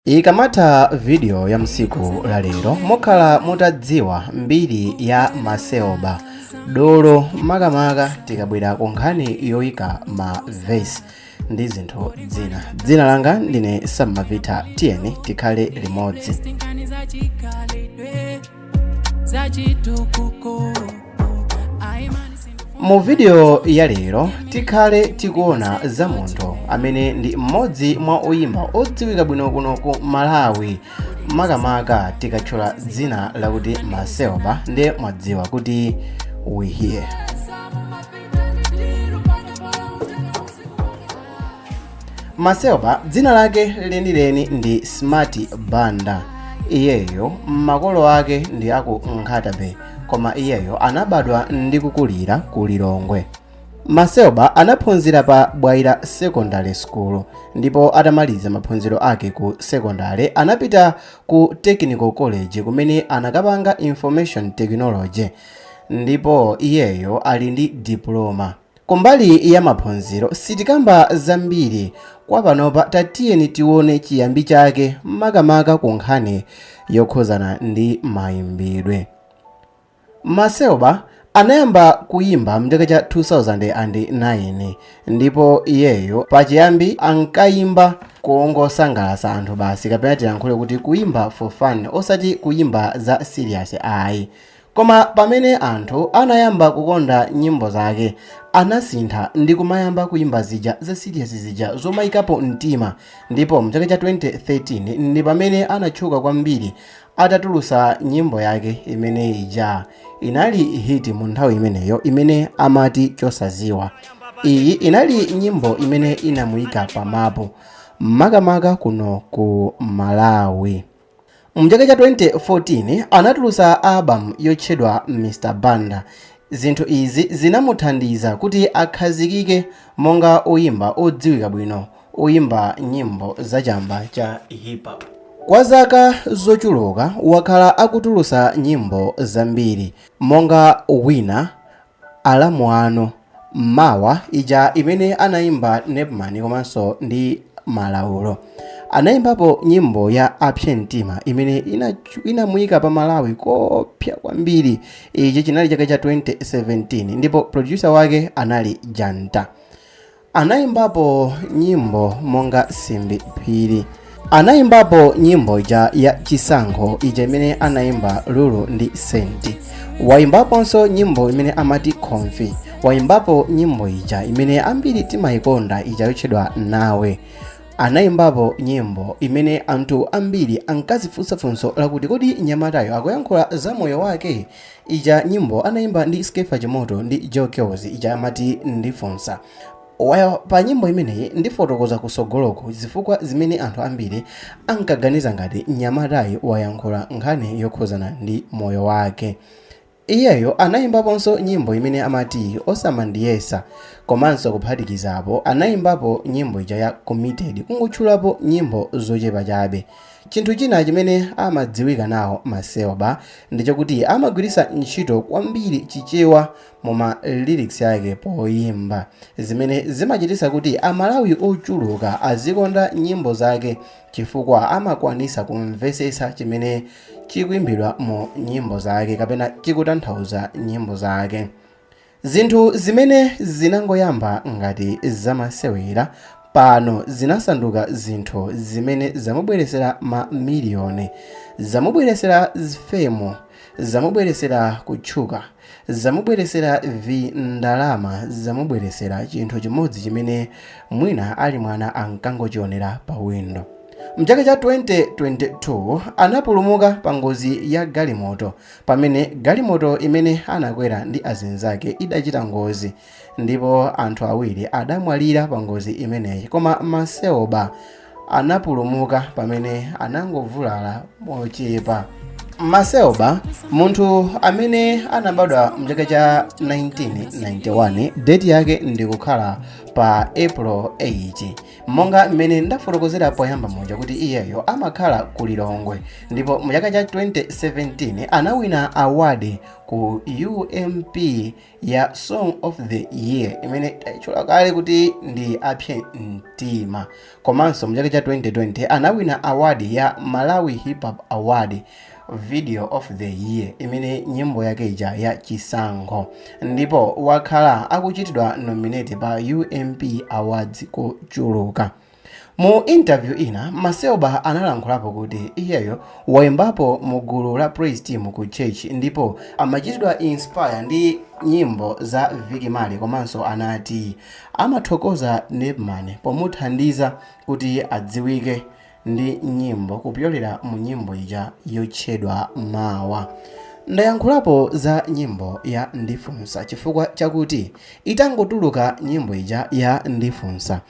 ikamatha vidiyo ya msiku la lero mukhala mutadziwa mbiri ya macelba dolo makamaka tikabwera ku nkhani yoyika ma vesi ndi zinthu zina dzina langa ndine sam malvitha tiyeni tikhale limodzi mu vidiyo ya lero tikhale tikuona za munthu amene ndi mmodzi mwa oyimba odziwika bwino kuno ku malawi makamaka tikatchula dzina lakuti macelba ndiye mwadziwa kuti we here macelba dzina lake lenileni ndi smart banda iyeyo makolo ake ndi aku nkhata bay koma iyeyo anabadwa ndi kukulira ku lilongwe macelba anaphunzira pa bwaira secondary school ndipo atamaliza maphunziro ake ku secondary anapita ku technical college kumene anakapanga information technology ndipo iyeyo ali ndi diploma Kumbali ya maphunziro sitikamba zambiri kwa panopa tatiyeni tione chiyambi chake makamaka ku nkhani yokhuzana ndi mayimbidwe. Macelba anayamba kuyimba mchaka cha 2009 ndipo iyeyo pachiyambi ankayimba kungosangalasa anthu basi kapena tiyankhule kuti kuyimba for fun osati kuyimba za serious ayi. Koma pamene anthu anayamba kukonda nyimbo zake, anasintha ndi kumayamba kuimba zija za serious zija zomaikapo mtima ndipo mchaka cha 2013 ndi pamene anatchuka kwambiri atatulusa nyimbo yake imene ija inali hit mu nthawi imeneyo imene amati Chosaziwa. Iyi inali nyimbo imene inamuika pa mapu makamaka kuno ku Malawi. M'chaka cha 2014 anatulutsa album yotchedwa Mr Banda. Zinthu izi zinamuthandiza kuti akhazikike monga oyimba odziwika bwino oyimba nyimbo za chamba cha hip hop. Kwa zaka zochuluka wakhala akutulutsa nyimbo zambiri monga Wina, Alamu anu mawa ija imene anaimba Nepman komanso ndi Malaulo anaimbapo nyimbo ya apse mtima imene inatch- inamuika pa Malawi koopsa kwambiri ichi chinali chaka cha 2017 ndipo producer wake anali Janta Anaimbapo nyimbo monga Simbi Phiri. Anaimbapo nyimbo ija ya Chisankho ija imene anaimba Lulu ndi Saint. Waimbaponso nyimbo imene amati Comfy. Waimbapo nyimbo ija imene ambiri timayikonda ija yotchedwa Nawe. Anaimbapo nyimbo imene anthu ambiri ankazifunsa funso lakuti kodi mnyamatayo akuyankhula za moyo wake Ija nyimbo anaimba ndi Skeffa Chimoto ndi Joe Kellz ija amati ndifunsa Why pa nyimbo imeneyi ndifotokoza kusogoloku zifukwa zimene anthu ambiri ankaganiza ngati mnyamatayi wayankhula nkhani yokhuzana ndi moyo wake. Iyeyo anaimbaponso nyimbo imene amati osamandiyesa komanso kuphatikizapo anaimbapo nyimbo ija ya committed kungotchulapo nyimbo zochepa chabe. Chinthu china chimene amadziwika nawo Macelba ndi chokuti amagwiritsa ntchito kwambiri Chichewa mu ma lyrics ake poyimba, zimene zimachititsa kuti a Malawi ochuluka azikonda nyimbo zake chifukwa amakwanitsa kumvesetsa chimene chikuimbidwa mu nyimbo zake kapena chikutanthauza nyimbo zake. Zinthu zimene zinangoyamba ngati zamasewera pano zinasanduka zinthu zimene zamubweretsera mamiliyoni, zamubweretsera fame, zamubweretsera kutchuka, zamubweretsera vindalama, zamubweretsera chinthu chimodzi chimene mwina ali mwana ankangochionera pawindo. M'chaka cha 2022 anapulumuka pangozi ya galimoto pamene galimoto imene anakwera ndi azinzake idachita ngozi ndipo anthu awiri adamwalira pa ngozi imeneyi koma Macelba anapulumuka pamene anangovulala mochepa Macelba munthu amene anabadwa mchaka cha 1991 date yake ndikukhala pa april 8 Monga mmene ndafotokozera poyamba muja kuti iyeyo amakhala ku Lilongwe ndipo mu chaka cha 2017 anawina award ku UMP ya Song of the Year imene taitchula kale kuti ndi apse mtima. Komanso mu chaka cha 2020 anawina award ya Malawi Hip Hop Award video of the year imene nyimbo yake ija ya chisankho ndipo wakhala akuchitidwa nominate pa UMP Awards kochuluka mu interview ina Macelba analankhulapo kuti iyeyo waimbapo mu gulu la praise team ku church ndipo amachitidwa inspire ndi nyimbo za Vic Marley komanso anati amathokoza Nepman pomuthandiza kuti adziwike ndi nyimbo kupyolera mu nyimbo ija yotchedwa mawa ndayankhulapo za nyimbo ya ndifunsa chifukwa chakuti itangotuluka nyimbo ija ya ndifunsa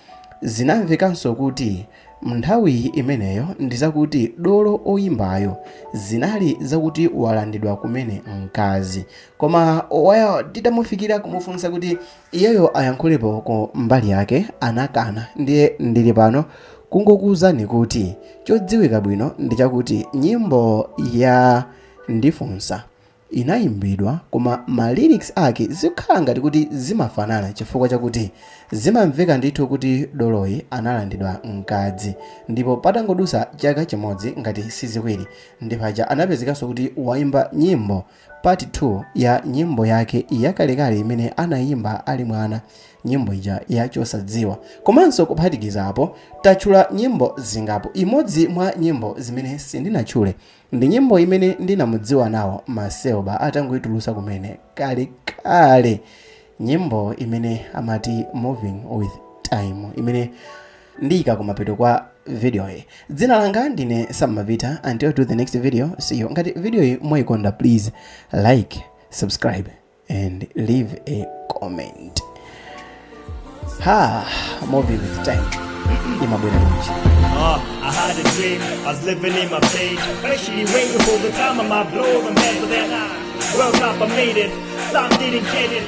zinamvekanso kuti mnthawi imeneyo ndi zakuti dolo oyimbayo zinali zakuti walandidwa kumene mkazi koma waya titamufikira kumufunsa kuti Iyeyo ayankhulepo ku mbali yake anakana ndiye ndili pano kungokuuzani kuti chodziwika bwino ndi chakuti nyimbo ya Ndifunsa inayimbidwa koma ma lyrics ake zikhala ngati kuti zimafanana chifukwa chakuti zimamveka ndithu kuti doloyi analandidwa mkazi ndipo patangodusa chaka chimodzi ngati siziwiri ndipaja anapezekanso kuti waimba nyimbo Part 2 ya nyimbo yake yakalekale imene anayimba ali mwana, nyimbo ija ya Chosadziwa. Komanso kuphatikizapo, tatchula nyimbo zingapo. Imodzi mwa nyimbo zimene sindinatchule ndi nyimbo imene ndinamudziwa nawo Macelba atangoitulutsa kumene kalekale, nyimbo imene amati Moving With Time, imene ndiyika kumapeto kwa video yi dzina langa ndine sammapita until to the next video see you ngati video yi mwayikonda please like subscribe and leave a comment ha movie with time imabwera kunji Uh, I had a dream, I was living in my pain. Patiently waiting for the time of my blow, and after that, I woke up, I made it. Some didn't get it.